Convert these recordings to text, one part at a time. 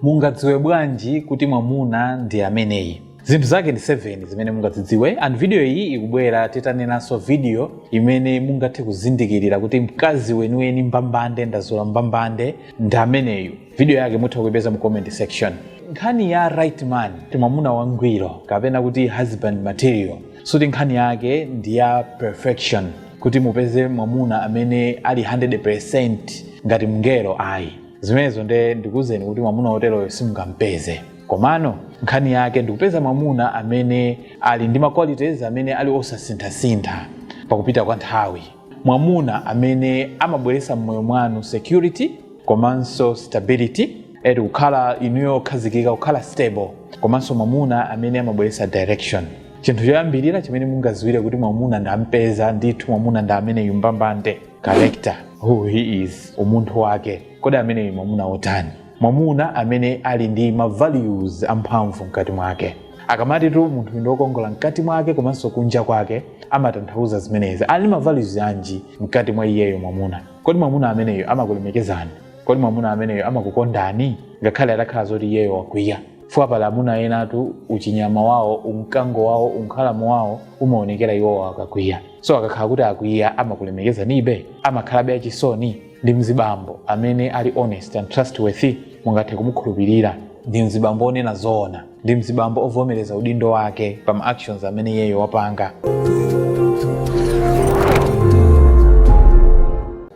Mungadziwe bwanji kuti mwamuna ndi ameneyi? Zinthu zake ndi 7 zimene mungadzidziwe and video iyi ikubwera titanenanso video imene mungathe kuzindikirira kuti mkazi weniweni mbambande ndazola mbambande ndi ameneyu. Video yake mutha kuipeza mu comment section. Nkhani ya right man ndi mwamuna wangwiro kapena kuti husband material suti nkhani yake ndi ya perfection kuti mupeze mwamuna amene ali 100% ngati mngelo ayi. zimenezo nde ndikuwuzeni kuti mwamuna woteroyo simungampeze komano nkhani yake ndikupeza mwamuna amene ali ndi maqualities amene ali osasinthasintha pakupita kwa nthawi mwamuna amene amabweretsa mmoyo mwanu security komanso stability eti kukhala inuyo okhazikika kukhala stable komanso mwamuna amene amabweretsa direction chinthu choyambirira chimene mungaziwire kuti mwamuna ndampeza ndithu mwamuna ndi ameneyu mbambande character who he is umunthu wake kodi ameneyu mwamuna wotani mwamuna amene ali ndi ma values amphamvu mkati mwake akamatitu munthu ndi wokongola mkati mwake komanso kunja kwake amatanthauza zimenezi ali ndi ma values anji mkati mwa iyeyo mwamuna kodi mwamuna ameneyo amakulemekezani kodi mwamuna ameneyo amakukondani ngakhale atakhala zoti iyeyo wakwiya fukwa pali amuna enatu uchinyama wawo umkango wawo unkhalamo wawo umaonekera iwowo akakwiya so akakhala kuti akwiya amakulemekezanibe amakhalabe achisoni ndi mzibambo amene ali honest and trustworthy mungathe kumukhulupirira ndi mzibambo onena zoona ndi mzibambo ovomereza udindo wake pa ma actions amene iyeyo wapanga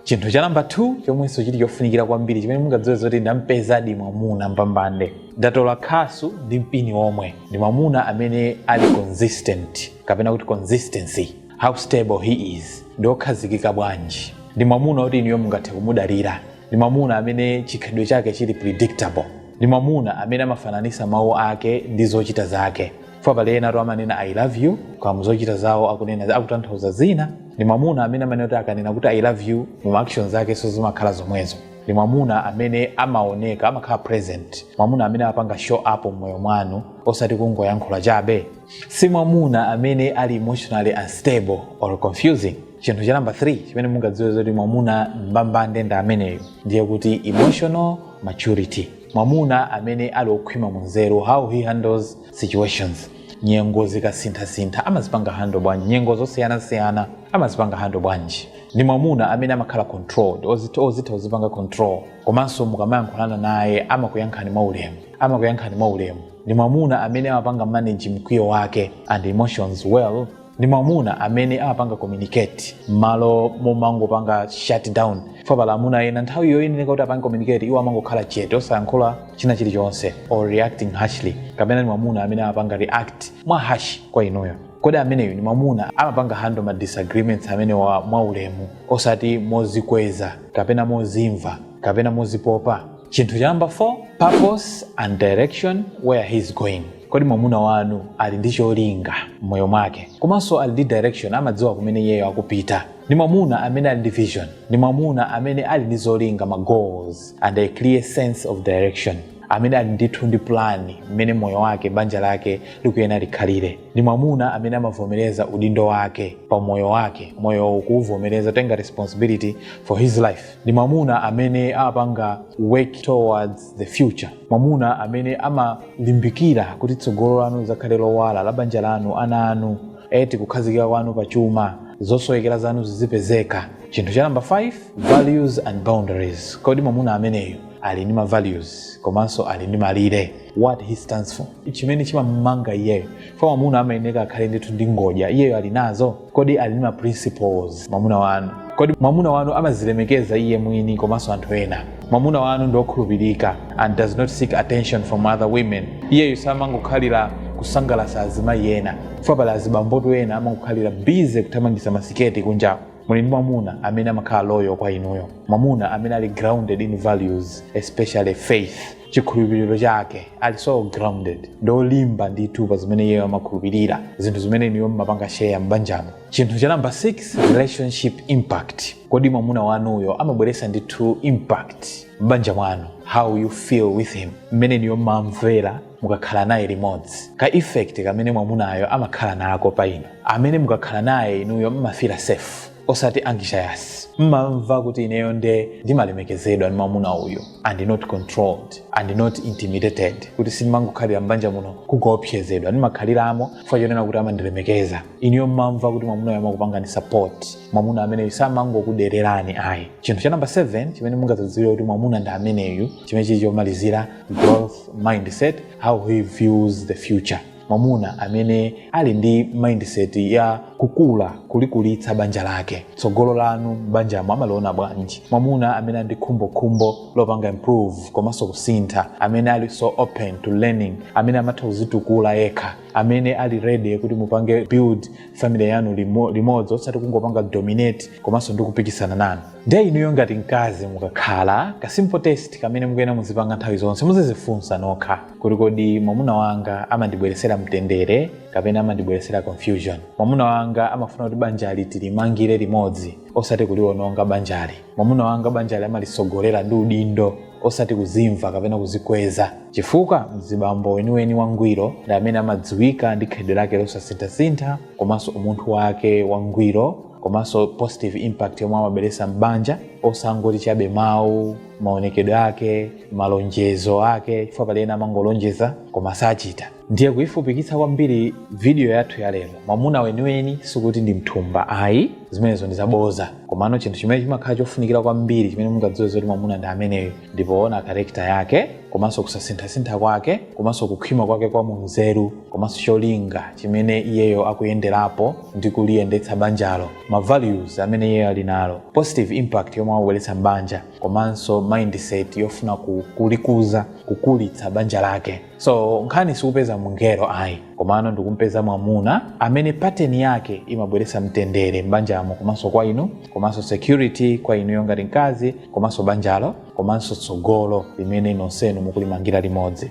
chinthu cha namba 2 chomwenso chili chofunikira kwambiri chimene mungadziwe zoti ndampezadi mwamuna mbambande ndatola khasu ndi mpini omwe ndi mwamuna amene ali consistent kapena kuti consistency how stable he is ndi okhazikika bwanji ndi mwamuna oti inuyo mungathe kumudalira ndi mwamuna amene chikhalidwe chake chili predictable ndi mwamuna amene amafananisa mawu ake ndi zochita zake fukwa pali enatu amanena i love you koma muzochita zawo akunena akutanthauza zina ndi mwamuna amene amanena kuti akanena kuti i love you mu ma actions akenso zimakhala zomwezo ndi mwamuna amene amaoneka amakhala present mwamuna amene amapanga show up mmoyo mwanu osati kungoyankhula chabe si mwamuna amene ali emotionally unstable or confusing chinthu cha namba 3 chimene mungadziwe zoti mwamuna mbambande ndi ameneyo ndiye kuti emotional maturity mwamuna amene ali okhwima mu nzeru how he handles situations nyengo zikasinthasintha amazipanga handle bwanji nyengo zosiyanasiyana amazipanga handle bwanji ndi mwamuna amene amakhala controlled ozitha kuzipanga control komanso mukamayankhulana naye amakuyankhani mwaulemu amakuyankhani mwaulemu ndi mwamuna amene amapanga manage mkwiyo wake and emotions well ndi mwamuna amene amapanga communicate m'malo momangopanga shut down fa pali amuna ena nthawi yoyenera kuti apange communicate iwo amangokhala chete osayankhula china chilichonse or reacting harshly kapena ndi mwamuna amene amapanga react mwa harsh kwa inuyo kodi ameneyo ndi mwamuna amapanga handle ma disagreements amenewa mwaulemu osati mozikweza kapena mozimva kapena mozipopa chinthu cha namba 4 purpose and direction where he is going kodi mwamuna wanu ali ndi cholinga m'moyo mwake komanso ali ndi direction amadziwa kumene iyeyo akupita ndi mwamuna amene ali ndi vision ndi mwamuna amene ali ndi zolinga ma goals and a clear sense of direction amene ali ndithu ndi pulani mmene moyo wake banja lake likuyena likhalire ndi mwamuna amene amavomereza udindo wake pa moyo wake moyo kuuvomereza tenga responsibility for his life ndi mwamuna amene amapanga work towards the future mwamuna amene amalimbikira kuti tsogolo lanu lizakhale lowala la banja lanu ana anu eti kukhazikika kwanu pa chuma zosowekera zanu zizipezeka chinthu cha namba 5 values and boundaries kodi mwamuna ameneyo ali ndi mavalues komanso ali ndi malire what he stands for chimene chimamumanga iyeyo fa mwamuna amayeneka akhale ndithu ndi ngodya iyeyo ali nazo Kodi ali ndi ma principles mwamuna wanu? Kodi mwamuna wanu amazilemekeza iye mwini komanso anthu ena? Mwamuna wanu ndi okhulupirika and does not seek attention from other women. Iyeyo samangokhalira kusangalatsa azimayi ena. Chifukwa pali azibambotu ena amangokhalira busy kuthamangitsa masiketi kunja. Muli ndi mwamuna amene amakhala loyal kwa inuyo. Mwamuna amene ali grounded in values, especially faith. chikhulupiriro chake ali so grounded ndolimba ndithu pa zimene iyeyo amakhulupirira zinthu zimene inuyo mmapanga share m'banjamo chinthu cha namba 6 relationship impact kodi mwamuna wanuyo amabweretsa ndithu impact m'banja mwanu how you feel with him mmene inuyo mmamvera mukakhala naye limodzi ka effect kamene mwamunayo amakhala nako pa inu amene mukakhala naye inuyo mmafila safe osati anxious mmamva kuti ineyo nde ndimalemekezedwa ndi mwamuna uyu and not controlled and not intimidated kuti simmangokhalira mbanja muno kungoopsezedwa ndimakhaliramo chifukwa chonena kuti amandilemekeza ineyo mmamva kuti mwamuna uyu amakupangani support mwamuna ameneyu samangokudererani ayi chinthu cha namba 7 chimene mungadzadziwire kuti mwamuna ndi ameneyu chimene chili chomalizira growth mindset how he views the future mwamuna amene ali ndi mindset ya kukula kulikulitsa banja lake tsogolo lanu m'banjamo amaliona bwanji mwamuna amene ali ndi khumbokhumbo lopanga improve komanso kusintha amene ali so open to learning amene amatha kuzitukula yekha amene ali ready kuti mupange build family yanu limodzi osati kungopanga dominate komanso ndi kupikisana nanu ndiye inuyo ngati mkazi mukakhala ka simple test kamene mukuyena muzipanga nthawi zonse muzizifunsa nokha kuti kodi mwamuna wanga amandibweretsera mtendere kapena amandibweretsera confusion mwamuna wanga amafuna kuti banjali tilimangire limodzi osati kuliwononga banjali mwamuna wanga banjali amalitsogolera ndi udindo osati kuzimva kapena kuzikweza chifukwa mzibambo weniweni wangwiro ndi amene amadziwika ndi khalidwe lake losasinthasintha komanso umunthu wake wangwiro komanso positive impact yomwe amabweresa m'banja osangoti chabe mawu maonekedwe ake malonjezo ake chifukwa pali ena amangolonjeza koma sachita ndiye kuyifupikitsa kwambiri video yathu ya lero mwamuna weniweni sikuti ndi mthumba ayi zimenezo ndi zaboza komano chinthu chimene chimakhala chofunikira kwambiri chimene mungadziwe zoti mwamuna ndi ameneyo ndi poona character yake komanso kusasinthasintha kwake komanso kukhwima kwake kwa munzeru komanso cholinga chimene iyeyo akuyenderapo ndi kuliyendetsa banjalo ma values amene iyeyo ali nalo positive impact yomwe akubweretsa m'banja komanso mindset yofuna ku- kulikuza kukulitsa banja lake so nkhani sikupeza mngelo ayi komano ndikumpeza mwamuna amene pattern yake imabweretsa mtendere m'banjamo komanso kwa inu komanso security kwa inuyo ngati mkazi komanso banjalo komanso tsogolo limene nonsenu mukulimangira limodzi